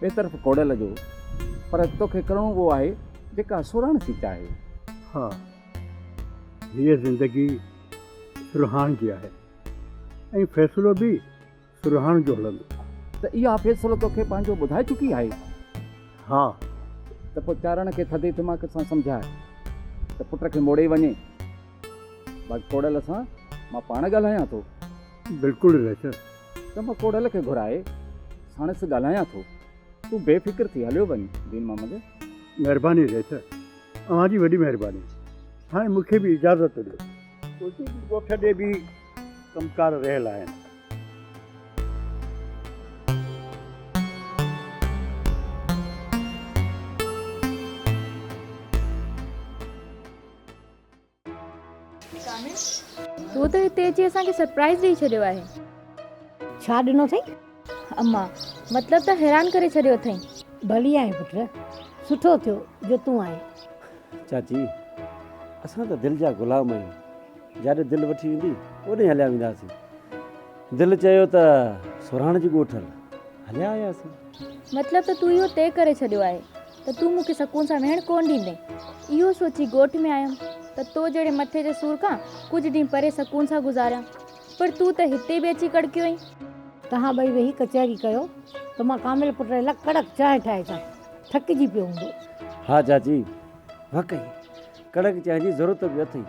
ٻئي طرف ڪوڙيل جو، پر توکي ڪرڻو اهو آهي، جيڪا سرهاڻ ٿي چاهي. ها، هيء زندگي سرهاڻ جي آهي، ۽ فيصلو به سرهاڻ جو هلندو. ته اها فيصلو توکي پنهنجو ٻڌائي چڪي آهي؟ ها. ته پوء چارڻ کي ٿڌي دماغ سان سمجهاء، ته پٽ کي موڙي وڃي. باقي ڪوڙيل سان مان پاڻ ڳالهايان ٿو. بلڪل ريچل ته مان ڪوڙهل کي گهرائي ساڻس ڳالهايان ٿو. تون بي فڪر ٿي هليو وڃ دين محمد. مهرباني ريچل اوهان جي وڏي مهرباني هاڻي مون کي به اجازت ڏيو. تنهنجي ڳوٺ ڏي به ڪم ڪار رهيل آهن. تو ته هتي اچي اسان کي سرپرائز ڏئي ڇڏيو آهي. ڇا ڏنو اٿئي اما؟ مطلب ته حيران ڪري ڇڏيو اٿئي. ڀلي آهي پٽ، سٺو ٿيو جو تون آئين. چاچي اسان ته دل جا غلام آهيون، جاڏي دل وٺي ويندي اوڏي هليا وينداسين. دل چيو ته سورهاڻ جي ڳوٺ هل، هليا آياسين. مطلب ته تون اهو طئي ڪري ڇڏيو آهي ته تون مون کي سڪون سان ويهڻ ڪونه ڏيندين. اهو سوچي ڳوٺ ۾ آيم ته تو جهڙي مٿي جي سور کان ڪجهه ڏينهن پري سڪون سان گذاريان. پر تون ته هتي به اچي ڪڙڪيو اهين. توهان ٻئي ويهي ڪچهري ڪيو ته مان ڪامل پٽ ري لاء ڪڙڪ چانهه ٺاهي اچان. ٿڪجي پيو هوندو. ها چاچي، واقعي ڪڙڪ چانهه جي ضرورت به اٿئي.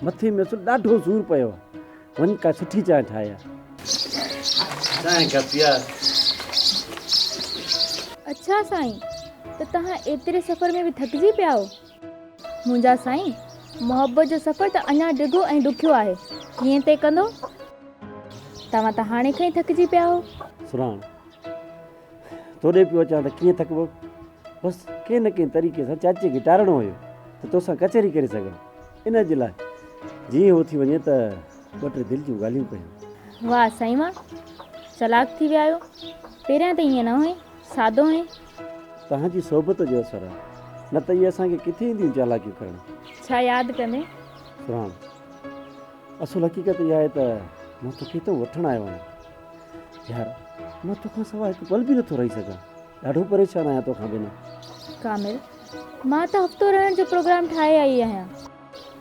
مٿي ۾ اصل ڏاڍو سور پيو آهي. وڃ ڪا سٺي چانهه ٺاهيا. چانهه ڪا پيا. اڇا سائين، ته توهان ايتري سفر ۾ به ٿڪجي پيا آهيو؟ منهنجا سائين، محبت جو سفر ته اڃا ڊگهو ۽ ڏکيو آهي، ڪيئن طئي ڪندو؟ توهان ته هاڻي کان ئي ٿڪجي پيا آهيو. سرهاڻ. توڏي پيو اچان ته ڪيئن ٿڪبو؟ بس ڪنهن نه ڪنهن طريقي سان چاچي کي ٽارڻو هيو ته توسان ڪچهري ڪري سگهان. ان جي لاء جيئن هو اٿي وڃي ته ٻه ٽي دل جون ڳالهيون ڪيون. واهه سائين واهه، چالاڪ ٿي ويا آهيو. پهريان ته ائين نه هئين، سادو هئين. توهان جي صحبت جو اثر آهي، نه ته اهي اسان کي ڪٿي اينديون چالاڪيون ڪرڻ. ڇا ياد ڪندين؟ فرحان، اصل حقيقت اها آهي ته مان توکي هتئون وٺڻ آيو آهيان. يار مان توکان سواء هڪ پل به نٿو رهي سگهان ڏاڍو پريشان آهيان توکان بنا ڪامل مان ته هفتو رهڻ جو پروگرام ٺاهي آئي آهيان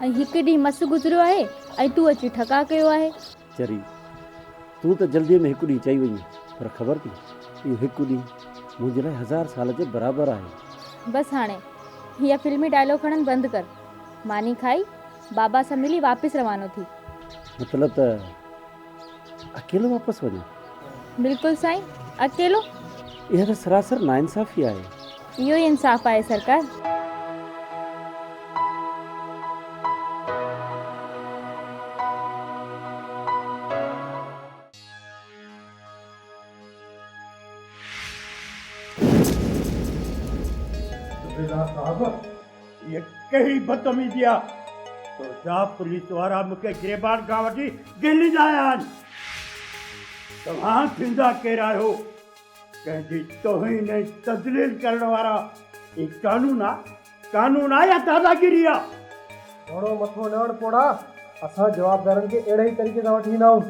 ۽ هڪ ڏينهن مس گذريو آهي ۽ تون اچي ٺڪاء ڪيو آهي چري تون ته جلدي ۾ هڪ ڏينهن چئي وئي پر خبر ٿي اهو هڪ ڏينهن منهنجي لاء هزار سال جي برابر آهي بس هاڻي هي فلمي ڊائلاگ هڻن بند ڪر ماني کائي بابا سان ملي واپس روانو ٿي مطلب ته اڪيلو واپس وڃان؟ بلڪل سائين اڪيلو. اها ته سراسر ناانصافي آهي. اهو ئي انصاف آهي سرڪار. صوبيدار صاحب! هيء ڪهڙي بدتميزي آ تو جا پوليس وارا مون کي گريبان کان وٺي دهلي لاء آيا آهن. توهان ٿيندا ڪير آهيو؟ ڪنهن جي توهين ۽ تذليل ڪرڻ وارا هي قانون آ؟ قانون آ يا داداگيري آ؟ گهڻو مٿو نه هڻ پوڙها، اسان جوابدارن کي اهڙي ئي طريقي سان وٺي ويندا آهيون.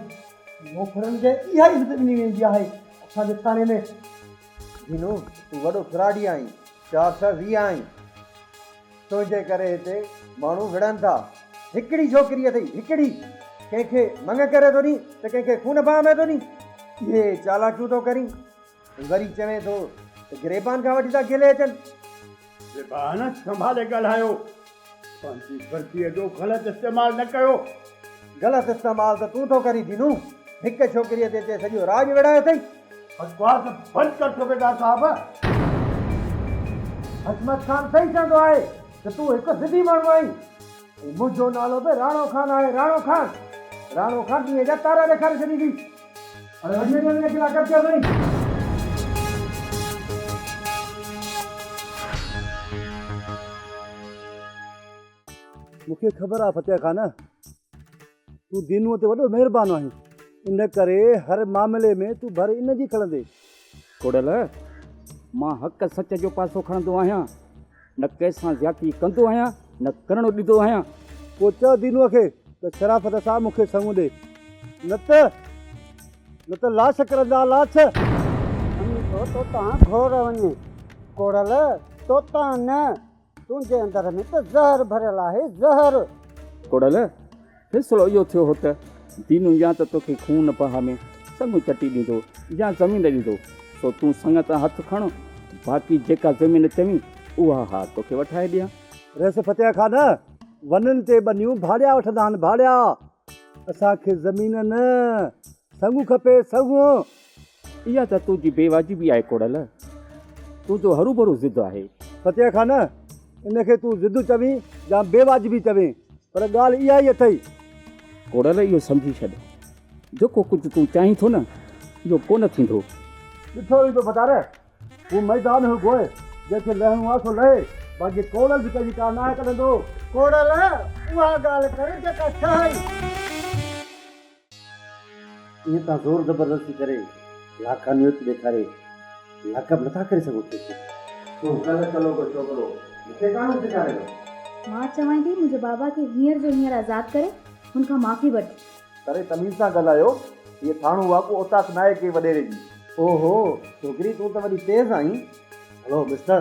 نوڪرن کي اها ئي عزت ڏني ويندي آهي اسان جي ٿاڻي ۾. جينو تون وڏو کراڙي آهين چار سئو ويهه آهين تنهنجي ڪري هتي ماڻهو وڙهن ٿا هڪڙي ڇوڪري اٿئي هڪڙي ڪنهن کي منڱ ڪري ٿو ڏين ته ڪنهن کي خون باهه ۾ ٿو ڏين اهي چالاڪيون ٿو ڪرين وري چوين ٿو ته گريبان کان وٺي ٿا گيلي اچن. زبان سنڀالي ڳالهايو. پنهنجي ورديء جو غلط استعمال نه ڪيو. غلط استعمال ته تون ٿو ڪرين جينو. هڪ ڇوڪريء تي تي سڄو راڄ ويڙهايو اٿئي. بڪواس بند ڪر صوبيدار صاحب. حشمت خان صحيح چوندو آهي ته تون هڪ ضدي ماڻهو آهين. ۽ منهنجو نالو به راڻو خان آهي، راڻو خان. راڻو خان ڏينهن جا تارا ڏيکاري ڇڏيندي. مون کي خبر آهي فتح خان تون دينوء تي وڏو مهربان آهين ان ڪري هر معاملي ۾ تون ڀر ان جي کڻندين. ڪوڏل، مان حق سچ جو پاسو کڻندو آهيان. نه ڪنهن سان زيادتي ڪندو آهيان نه ڪرڻ ڏيندو آهيان. پوء چئو دينوء کي ته شرافت سان مون کي سڱو ڏي نه ته نه ته لاش ڪرندا لاش. امي تو توتان گهور وڃي ڪوڙل توتان نه تنهنجي اندر ۾ ته زهر ڀريل آهي زهر. ڪوڙل فيصلو اهو ٿيو هو ته دينو يا ته توکي خون بها ۾ سڱو چٽي ڏيندو يا زمين ڏيندو، سو تون سڱ تان هٿ کڻ، باقي جيڪا زمين چوين، اها ها توکي وٺائي ڏيان. رئيس فتح خان ونن تي ٻنيون ڀاڙيا وٺندا آهن، ڀاڙيا! اسان کي زمين نه، سڱو کپي سڱو. اها ته تنهنجي بي واجبي آهي ڪوڙل. تنهنجو هروڀرو ضد آهي. فتح خان، ان کي تون ضد چوين يا بي واجبي چوين پر ڳالهه اها ئي اٿئي. ڪوڙل اهو سمجهي ڇڏ جيڪو ڪجهه تون چاهين ٿو نه اهو ڪونه ٿيندو. ڏٺو ويندو فتح. هو ميدان هو گوء جنهن کي لهڻو آهي سو لهي باقي ڪوڙل به ڪنهنجي ڪا ناهه ڪڍندو. ڪوڙل اها ڳالهه ڪر جيڪا چاهين. ائين تان زور زبردستي ڪري لاقانويت ڏيکاري لاقب نٿا ڪري سگهو ڪيسر. تون ڪل ڪلو ڪو ڇوڪرو مون کي ڪانه سيکاريو. مان چوانء ٿي منهنجي بابا کي هينئر جو هينئر آزاد ڪري هن کان معافي وٺ. ڪري تميز سان ڳالهايو. هيء ٿانو واڪو اوطاق ناهي ڪنهن وڏيري جي. او هو ڇوڪري تون ته وڏي تيز آهين. Hello mister!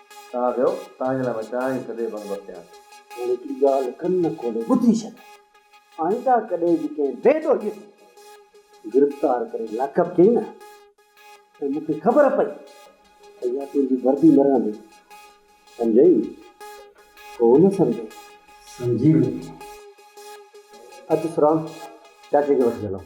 تان ويو، تان جي لاء مان چاهه ئي سدي بند بکيان. هاڻي هڪڙي ڳالهه ڪن کولي ٻڌي ڇڏ. آئنده ڪڏهن به ڪنهن بي ڏوهي کي گرفتار ڪري لاڪپ ڪيئي نه ۽ مون کي خبر پئي ته اها تنهنجي وردي نه رهندي. سمجهئي؟ ڪو نه سمجهي. سمجهي ويندين. اچ سرام، چاچي کي وٺي هلون.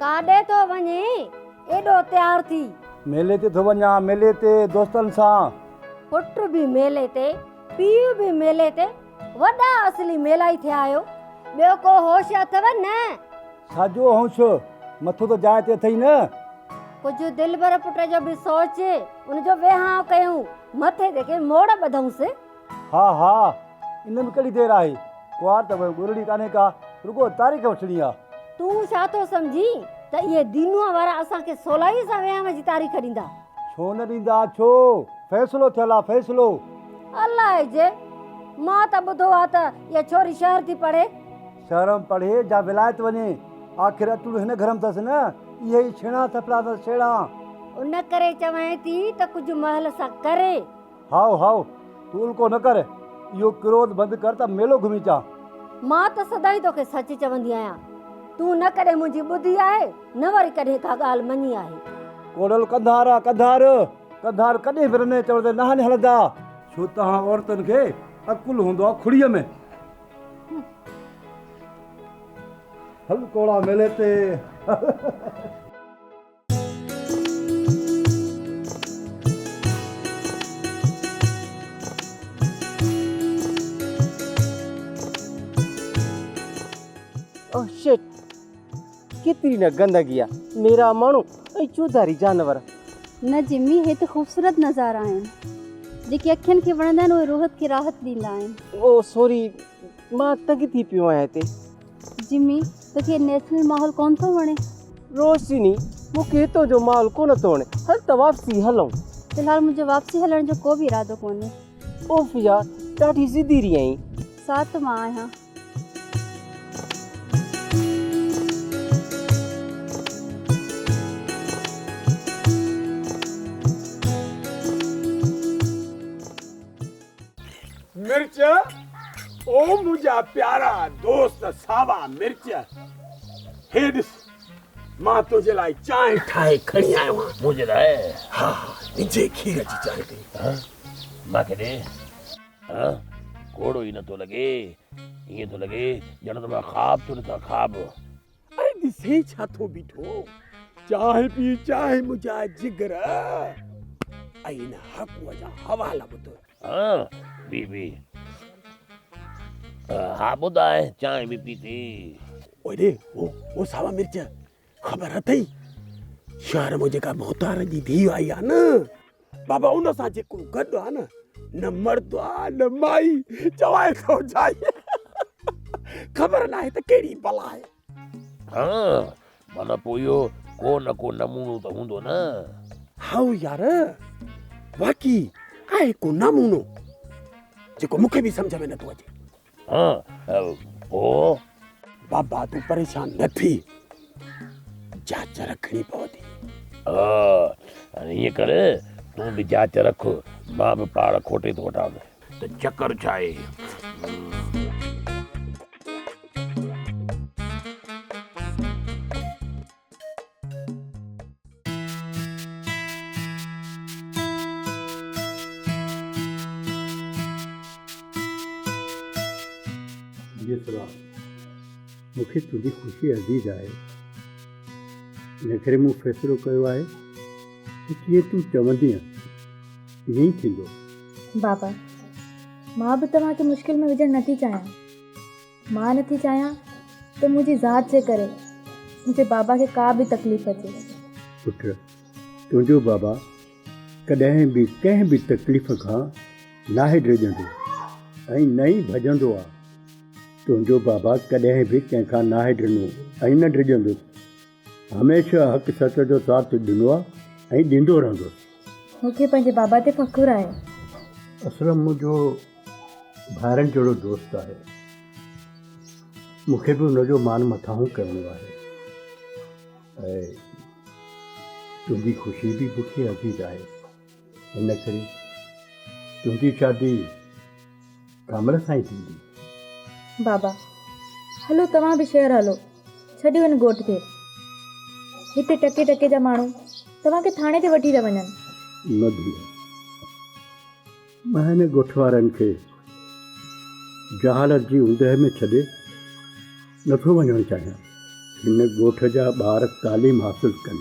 ڪاڏي ٿو وڃين ايڏو تيار ٿي. ميلي تي ٿو وڃان ميلي تي دوستن سان. پٽ به ميلي تي پيء به ميلي تي وڏا اصلي ميلائي ٿيا آهيو. ٻيو ڪو هوش اٿو نه؟ ڇاجو هوش؟ مٿو ته جاء تي اٿئي نه. ڪجهه دلبر پٽ جو به سوچ. ان جو ويهانء ڪيون. مٿي تي ڪي موڙ ٻڌئونس. ها ها. ان ۾ ڪهڙي دير آهي. ڪنوار ته پوء ڳولڻي ڪانهي ڪا. رڳو تاريخ وٺڻي آ. تون ڇا ٿو سمجهين ته اهي دينوء وارا اسان کي سولائيء سان ويهانء جي تاريخ ڏيندا. ڇو نه ڏيندا ڇو فيصلو ٿيل آ فيصلو. الائي جي مان ته ٻڌو آ ته اها ڇوري شهر ٿي پڙهي. شهر م پڙهي جا ولايت وڃي آخر اٽوڙو هن گهر م ٿس نه اهي ئي ڇيڻا ٿڦڙا ٿس ڇيڙا. ان ڪري چوانء ٿي ته ڪجهه مهل سان ڪري. هائو هائو، تون الڪو نه ڪر، اهو ڪروڌ بند ڪر ته ميلو گهمي اچان. مان ته سدائين توکي سچ چوندي آهيان. تون نه ڪڏهن منهنجي ٻڌي آهي، نه وري ڪڏهن ڪا ڳالهه مڃي آهي. ڪوڙل ڪنڌار آ ڪنڌار. ڪنڌار ڪڏهن به رنئين چوڻ تي ناهن هلندا. ڇو توهان عورتن کي عقل هوندو آ کڙيء ۾. هل ڪوڙا ميلي تي هل. ڪيتري نه گندگي آهي نيرا ماڻهو ۽ چوڌاري جانور. نه جمي هي ته خوبصورت نظارا آهن جيڪي اکين کي وڻندا آهن اهي روح کي راحت ڏيندا آهن. او سوري مان تنگ ٿي پيو آهيان هتي. جمي، توکي نيشنل ماحول ڪونه ٿو وڻي؟ روشني، مونکي هتو جو ماحول ڪونه ٿو وڻي، هل ته واپسي هلون. في الحال منهنجو واپسي هلڻ جو ڪو به ارادو ڪونهي. عوفيه، ڏاڍي ضدي رهي آهين. ساعت مان آهيان. مرچ او منهنجا پيارا دوست ساوا مرچ هي ڏس مان تنهنجي لاء چانهه ٺاهي کڻي آيو آهيان منهنجي لاء ها وجهي کير جي چانهه ڪئي ها مان کي ڏي ها ڪوڙو ئي نٿو لڳي ائين ٿو لڳي ڄڻ ته مان خواب ٿو ڏسان خواب اڙي ڏسين ڇا ٿو بيٺو چانهه پي چانهه منهنجا جگر ۽ ان هاڪوء جا حوالا ٻڌ. ها بي بي ها ٻڌاء چانهه به پيتي. اڙي هو هو ساوا مرچ خبر اٿئي شهر مان جيڪا ڀوتارن جي ڌيء آئي آهي نه بابا ان سان جيڪو گڏ آ نه نه مرد آ نه مائي چوائي ٿو جائي خبر ناهي ته ڪهڙي بلا آهي. ها معنيٰ پوء اهو ڪو نه ڪو نمونو ته هوندو نه. هائو يار واقعي آهي ڪو نمونو جيڪو مون کي به سمجهه ۾ نٿو اچي. بابا تون پريشان نه ٿي جاچ رکڻي پوندي. ائين ڪر تون به جاچ رک مان به پاڙ کوٽي ٿو وٺان ته چڪر ڇا آهي. ميسرا، مون کي تنهنجي خوشي عزيز آهي، ان ڪري مون فيصلو ڪيو آهي ته جيئن تون چوندينء، تيئن ئي ٿيندو. بابا، مان به توهان کي مشڪل ۾ وجهڻ نه ٿي چاهيان. مان نه ٿي چاهيان ته منهنجي ذات جي ڪري منهنجي بابا کي ڪا به تڪليف اچي. پٽ، تنهنجو بابا ڪڏهن به ڪنهن به تڪليف کان ناهي ڊڄندو ۽ نه ئي ڀڄندو آهي. تنهنجو بابا ڪڏهن به ڪنهن کان ناهي ڊنو ۽ نه ڊڄندو. هميشه حق سچ جو ساٿ ڏنو آ ۽ ڏيندو رهندس. مون کي پنهنجي بابا تي فخر آهي. اسلم منهنجو ڀائرن جهڙو دوست آهي. مون کي به ان جو مان مٿانهون ڪرڻو آهي. اي تنهنجي خوشي به مون کي عزيز آهي. ان ڪري تنهنجي شادي ڪامل سان ئي ٿيندي. بابا، هلو توهان به شهر هلو، ڇڏيو هن ڳوٺ کي. هتي ٽڪي ٽڪي جا ماڻهو توهان کي ٿاڻي تي وٺي ٿا وڃن. نه ڌيء، مان هن ڳوٺ وارن کي جهالت جي اوندهه ۾ ڇڏي نٿو وڃڻ چاهيان. هن ڳوٺ جا ٻار تعليم حاصل ڪن.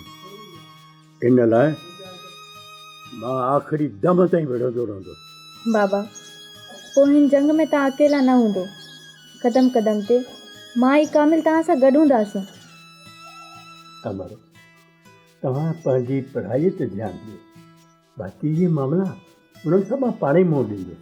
ان لاء مان آخري دم تائين وڙهندو رهندس. بابا، پوء هن جنگ ۾ توهان اڪيلا نه هوندو. قدم قدم تي مان ۽ ڪامل توهان سان گڏ هونداسون. امڙ، توهان پنهنجي پڙهائيء تي ڌيان ڏيو. باقي اهي معاملا، انهن سان مان پاڻهي منهن ڏيندس.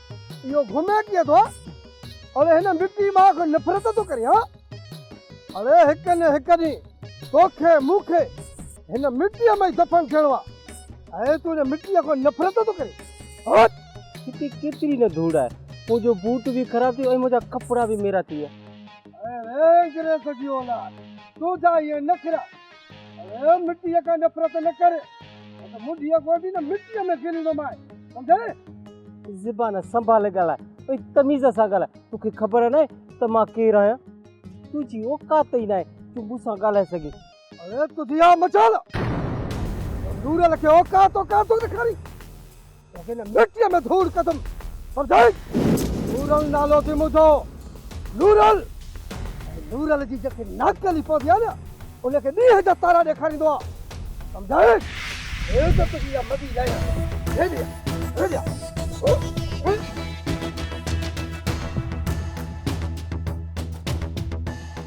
اهو گهمي ڪيئن ٿو؟ اڙي هن مٽي مان آخر نفرت ٿو ڪرين ها؟ اڙي هڪ نه هڪ ڏينهن توکي مون کي هن مٽيء ۾ ئي دفن ٿيڻو آهي. اڙي تون هن مٽيء کان نفرت ٿو ڪرين؟ هوت! هتي ڪيتري نه ڌوڙ آهي. منهنجو بوٽ به خراب ٿي ويو ۽ منهنجا ڪپڙا به ميرا ٿي ويا. اڙي انگريز جي اولاد! تنهنجا اهي نخرا اڙي مٽيء کان نفرت نه ڪر، نه ته منڍيء گوڏي نه مٽيء ۾ ڦريندومانء، سمجهيئي؟ زبان سنڀالي ڳالهاء ۽ تميز سان ڳالهاء، توکي خبر ناهي ته مان ڪير آهيان؟ تنهنجي اوقات ئي ناهي جو مون سان ڳالهائي سگهين. اڙي تڌيا مچال! تون نورل کي اوقات اوقات ٿو ڏيکارين؟ توکي هن مٽيء ۾ ڌوڙ ڪندم، سمجهيئي؟ نورل نالو اٿئي منهنجو، نورل! ۽ نورل جي جيڪي ناڪلي پوندي آهي نه، ان کي ڏينهن جا تارا ڏيکاريندو آهيان، سمجهيئي؟ عزت جي اها مدي لائي ڏي، ڏي ڏي، ڏي ڏي.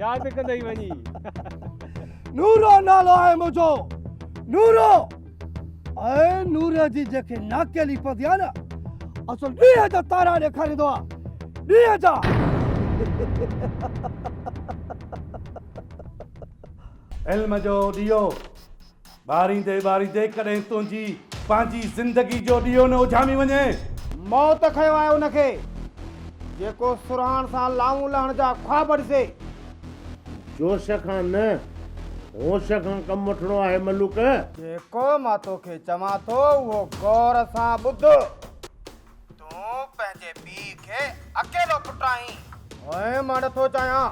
ياد ڪندئي وڃي نورو نالو آهي منهنجو نورو ۽ نور جي جيڪي ناکيلي پوندي آهي نه اصل ڏينهن جا تارا ڏيکاريندو آهي ڏينهن جا علم جو ڏيئو ٻاريندي ٻاريندي ڪڏهن تنهنجي پنهنجي زندگي جو ڏيئو نه اجهامي وڃي. موت کنيو آهي ان کي، جيڪو سرهاڻ سان لانئون لهڻ جا خواب ڏسي. جوش کان نه، هوش کان ڪم وٺڻو آهي ملوڪ. جيڪو مان توکي چوان ٿو، اهو غور سان ٻڌ. تون پنهنجي پيء کي اڪيلو پٽ آهين. هونء مان نٿو چاهيان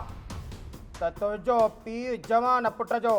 ته تنهنجو پيء جوان پٽ جو.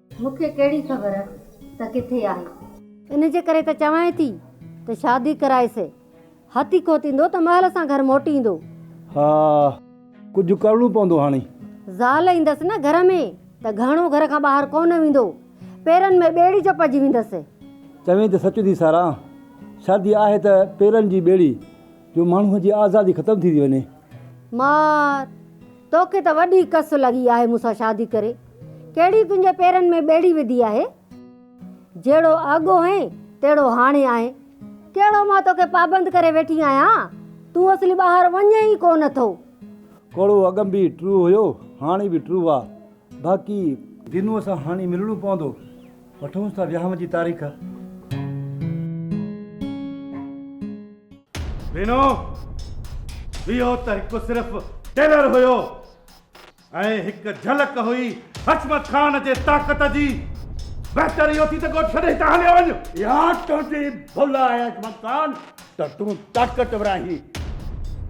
مون کي ڪهڙي خبر ته ڪٿي آهي. ان جي ڪري ته چوانء ٿي ته شادي ڪرائيس. هٿي کوتيندو ته مهل سان گهر موٽي ايندو. ها ڪجهه ڪرڻو پوندو هاڻي. زال ايندس نه گهر ۾ ته گهڻو گهر کان ٻاهر ڪونه ويندو. پيرن ۾ ٻيڙي چپجي ويندس. چوين ته سچ ٿي سارا. شادي آهي ته پيرن جي ٻيڙي جو ماڻهوء جي آزادي ختم ٿيندي وڃي. مار! توکي ته وڏي ڪس لڳي آهي مون سان شادي ڪري ڪهڙي تنهنجي پيرن ۾ ٻيڙي وڌي آهي جهڙو اڳ هئين تهڙو هاڻي آهين ڪهڙو مان توکي پابند ڪري ويٺي آهيان تون اصلي ٻاهر وڃين ئي ڪو نه ٿو. ڪوڙو اڳ ۾ به ٽرو هيو هاڻي به ٽرو آ باقي. دينوء سان هاڻي ملڻو پوندو وٺونس ٿا وياهه جي تاريخ. بينو اهو ته هڪ صرف ٽيلر هيو ۽ هڪ جهلڪ هئي حشمت خان جي طاقت جي بهتر اهو ٿي ته ڳوٺ ڇڏي هتان هليو وڃ يا تنهنجي ڀل آهي حشمت خان ته تون طاقتور آهين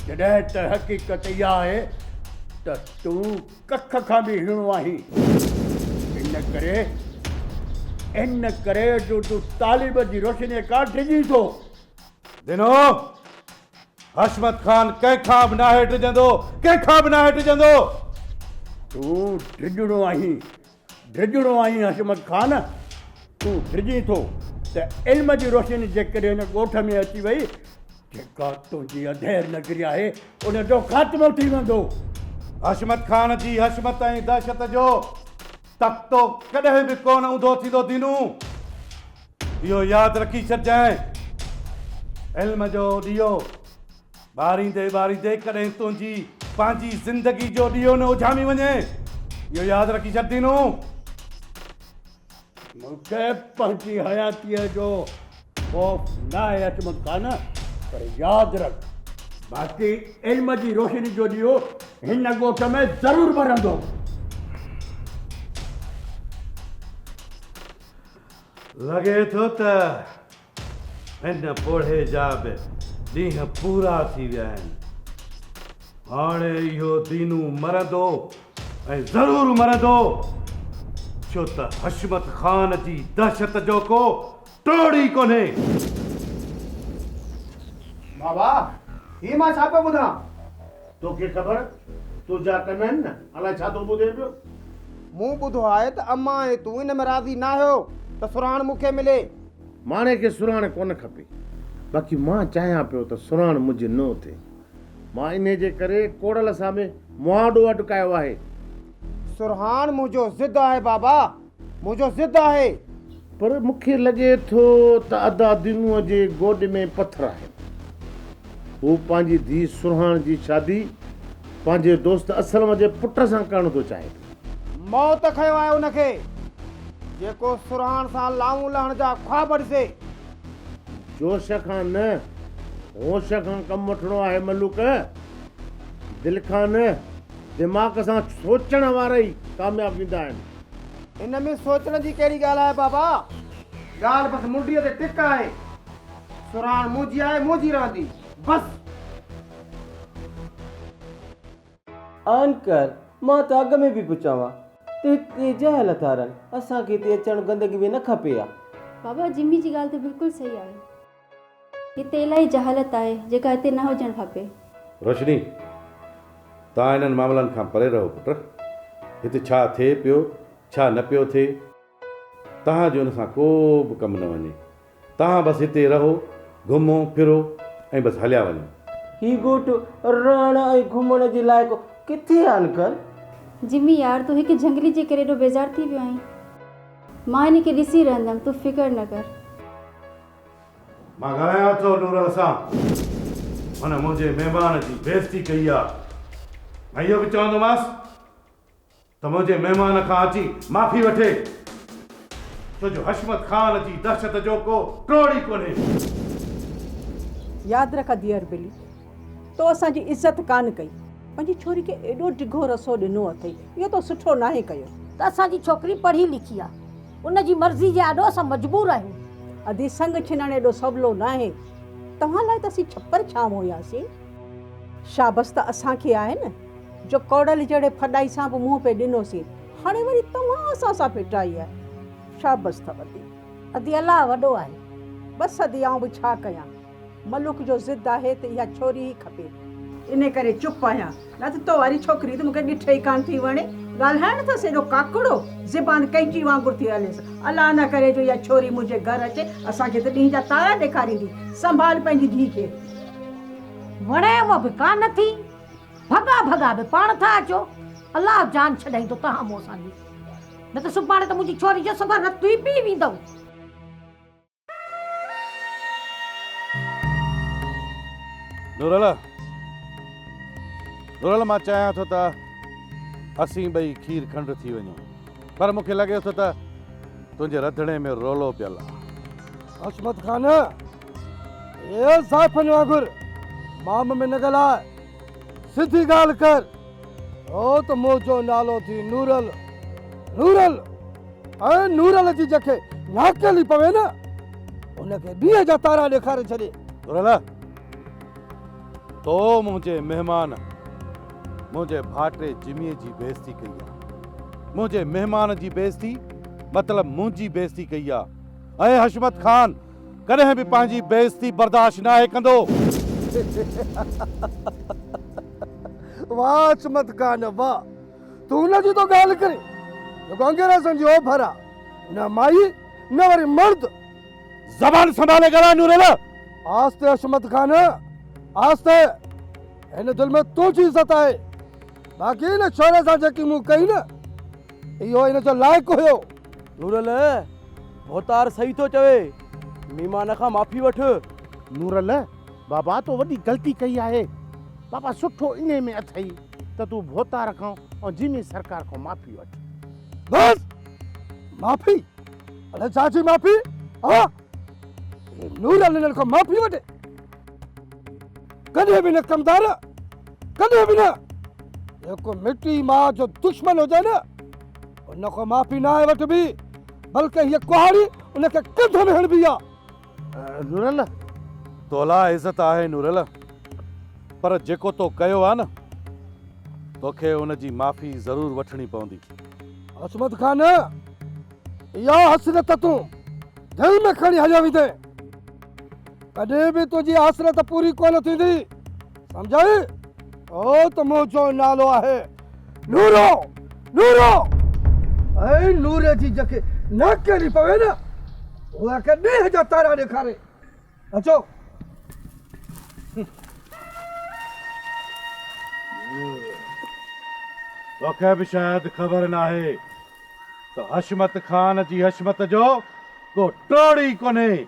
جڏهن ته حقيقت اها آهي ته تون ڪک کان به هيڻو آهين ان ڪري ان ڪري جو تون طالب جي روشني کان ڊڄين ٿو ڌنو! حشمت خان ڪنهن کان به ناهي ڊڄندو، ڪنهن کان به ناهي ڊڄندو. تون ڊڄڻو آهين، ڊڄڻو آهين حشمت خان. تون ڊڄين ٿو ته علم جي روشني جيڪڏهن هن ڳوٺ ۾ اچي وئي، جيڪا تنهنجي اڌير نگري آهي، ان جو خاتمو ٿي ويندو. حشمت خان جي حشمت ۽ دهشت جو تختو ڪڏهن به ڪونه اونڌو ٿيندو ڌنو. اهو ياد رکي ڇڏجانء علم جو ڏيئو ٻاريندي ٻاريندي ڪڏهن تنهنجي پنهنجي زندگي جو ڏيئو نه اجهامي وڃي اهو ياد رکي ڇڏندينون مون کي پنهنجي حياتيء جو خوف ناهي عصمت خان پر ياد رک باقي علم جي روشني جو ڏيئو هن ڳوٺ ۾ ضرور ٻرندو. لڳي ٿو ته هن پوڙهي جا به ڏينهن پورا ٿي ويا آهن. هاڻي اهو دينو مرندو ۽ ضرور مرندو، ڇو ته حشمت خان جي دهشت جو ڪو ٽوڙ ئي ڪونهي. بابا، هي مان ڇا پيو ٻڌان؟ توکي خبر تنهنجا ڪن آهن نه الائي ڇا ٿو ٻڌين پيو. مون ٻڌو آهي ته امان ۽ تون ان ۾ راضي ناهيو ته سرهاڻ مون کي ملي. ماڻهي کي سرهاڻ ڪونه کپي باقي مان چاهيان پيو ته سرهاڻ منهنجي نو ٿئي مان انهي جي ڪري ڪوڙل سان به مهاڏو اٽڪايو آهي. سرهاڻ منهنجو ضد آهي بابا. منهنجو ضد آهي. پر مون کي لڳي ٿو ته ادا دينوء جي گوڏي ۾ پٿر آهن. هو پنهنجي ڌيء سرهاڻ جي شادي پنهنجي دوست اسلم جي پٽ سان ڪرڻ ٿو چاهي پيو. موت کنيو آهي ان کي، جيڪو سرهاڻ سان لانئون لهڻ جا خواب ڏسي. جوش کان نه، هوش کان ڪم وٺڻو آهي ملوڪ. دل کان نه، دماغ سان سوچڻ وارا ئي ڪامياب ويندا آهن. ان ۾ سوچڻ جي ڪهڙي ڳالهه آهي بابا؟ ڳالهه بس منڊيء تي ٽڪ آهي. سرهاڻ منهنجي آهي، منهنجي رهندي. بس! آنڪر، مان ته اڳ ۾ به پيو چوان ته هت تي جهل نٿا رهن. اسان کي هتي اچڻ گندگي ۾ نه کپي ها. بابا، جمي جي ڳالهه ته بلڪل صحيح آهي. هتي الاهي جهالت آهي جيڪا هتي نه هجڻ کپي. روشني، توهان انهن معاملن کان پري رهو پٽ. هتي ڇا ٿئي پيو ڇا نه پيو ٿئي توهان جو ان سان ڪو به ڪم نه وڃي. توهان بس هتي رهو، گهمو ڦرو ۽ بس هليا وڃو. هي ڳوٺ رهڻ ۽ گهمڻ جي لائق ڪٿي آهي انڪل؟ جمي يار تون هڪ جهنگلي جي ڪري ايڏو بيزار ٿي ويو آهين. مان هن کي ڏسي رهندم تون فڪر نه ڪر. مان ڳالهايان ٿو نورل سان. هن منهنجي مهمان جي بيعزتي ڪئي آ. مان اهو به چوندومانس ته منهنجي مهمان کان اچي معافي وٺي. ڇو جو حشمت خان جي دهشت جو ڪو ٽوڙ ئي ڪونهي. ياد رک ڌيئر بلي، تو اسان جي عزت ڪانه ڪئي. پنهنجي ڇوري کي ايڏو ڊگهو رسو ڏنو اٿئي. اهو تو سٺو ناهي ڪيو. ته اسان جي ڇوڪري پڙهي لکي آ. ان جي مرضي جي آڏو اسان مجبور آهيون. ادي سڱ ڇنڻ ايڏو سولو ناهي. توهان لاء ته اسين ڇپر ڇانو هياسين. شابس ته اسان کي آهي نه جو ڪوڙل جهڙي ڦڏائي سان به منهن پئي ڏنوسين. هاڻي وري توهان اسان سان ڦٽائي آهي. شابس اٿئو ادي. ادي الله وڏو آهي. بس ادي آئون به ڇا ڪيان. ملوڪ جو ضد آهي ته اها ڇوري ئي کپي. انهي ڪري چپ آهيان. نه ته تو واري ڇوڪري ته مون کي ڏٺ ئي ڪانه ٿي وڻي. ڳالهائڻ اٿس ايڏو ڪاڪڙو، زبان ڪئنچي وانگر ٿي هليس. الله نه ڪري جو اها ڇوري منهنجي گهر اچي، اسان کي ته ڏينهن جا تارا ڏيکاريندي. سنڀال پنهنجي ڌيء کي. وڻيم به ڪانه ٿي. ڀڳا ڀڳا به پاڻ ٿا اچو. الله جان ڇڏائيندو توهان مون سان جي. نه ته سڀاڻي ته منهنجي ڇوري جو سندر رت ئي پي ويندؤ. نورل نورل مان چاهيان ٿو ته اسين ٻئي کير کنڊ ٿي وڃون پر مون کي لڳي ٿو ته تنهنجي رڌڻي ۾ رولو پيل آهي حشمت خان اي زائفن وانگر مام ۾ نه ڳالهاء سڌي ڳالهه ڪر او ته منهنجو نالو ٿي نورل نورل ۽ نور الذي جنهن کي ناکيلي پوي نه ان کي ڏينهن جا تارا ڏيکاري ڇڏي. نور الله! تو منهنجي مهمان منهنجي ڀائٽي جميء جي بيعزتي ڪئي آ. منهنجي مهمان جي بيعزتي مطلب منهنجي بيعزتي ڪئي آ. اهي حشمت خان ڪڏهن به پنهنجي بيعزتي برداشت ناهي ڪندو. واه حشمت خان واه! تون ان جي ٿو ڳالهه ڪرين جيڪو انگريزن جي اوڀر آ نه مائي نه وري مرد. زبان سنڀالي ڳالهاء نوريلا. آهستي حشمت خان آهستي هن دل ۾ تنهنجي عزت آهي باقي هن ڇوري سان جيڪي مون ڪئي نه اهو هن جو لائق هيو. نوريل ڀوتار صحيح ٿو چوي ميمان کان معافي وٺ. نوريل بابا تو وڏي غلطي ڪئي آهي بابا سٺو انهي ۾ اٿئي. ته تون ڀوتار کان ۽ جيمي سرڪار کان معافي وٺ. بس! معافي؟ اڙي ڇا جي معافي؟ ها؟ هي نورل انهن کان معافي وٺي؟ ڪڏهن به نه ڪمدار! ڪڏهن به نه! جيڪو مٽي ماء جو دشمن هجي نه، ان کان معافي ناهي وٺبي، بلڪ هيء ڪهاڙي ان کي ڪنڌ ۾ هڻبي آ. نورل! تولاء عزت آهي نورل، پر جيڪو تو ڪيو آ نه، توکي ان جي معافي ضرور وٺڻي پوندي. عصمت خان! اها حسرت تون دل ۾ کڻي هليو ويندين. ڪڏهن به تنهنجي حسرت پوري ڪونه ٿيندي. سمجهيئي؟ اهو ته مون جو نالو آهي، نورو! نورو! ۽ نوري جي جيڪي ناڪ ڪرڻي پوي نه، اها ڪي ڏيهه جا تارا ڏيکاري. اچو! توکي به شايد خبر ناهي ته حشمت خان جي حشمت جو ڪو ٽوڙ ئي ڪونهي.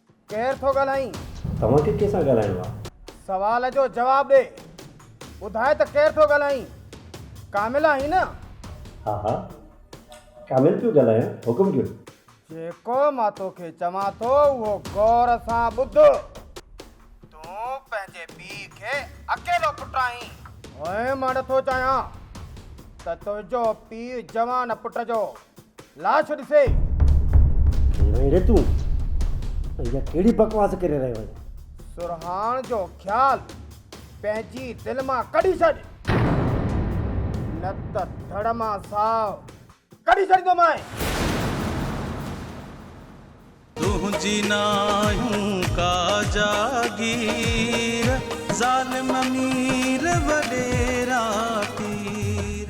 ڪير ٿو ڳالهائين؟ توهان کي ڪنهن سان ڳالهائڻو آهي؟ سوال جو جواب ڏي. ٻڌاء ته ڪير ٿو ڳالهائين؟ ڪامل آهين نه؟ ها ها. ڪامل پيو ڳالهايان. حڪم ڪيو. جيڪو مان توکي چوان ٿو اهو غور سان ٻڌ. تون پنهنجي پيء کي اڪيلو پٽ آهين. هئين مان نٿو چاهيان ته تنهنجو پيء جوان پٽ جو لاش ڏسي. ڪير آهين ري تون ۽ اها ڪهڙي بڪواس ڪري رهيو آهين؟ سرهاڻ جو خيال پنهنجي دل مان ڪڍي ڇڏ نه ته ڌڙ مان ساهه ڪڍي ڇڏيندومانء. تنهنجي ناهيون ڪا جاگير ظالم امير وڏيرا پير.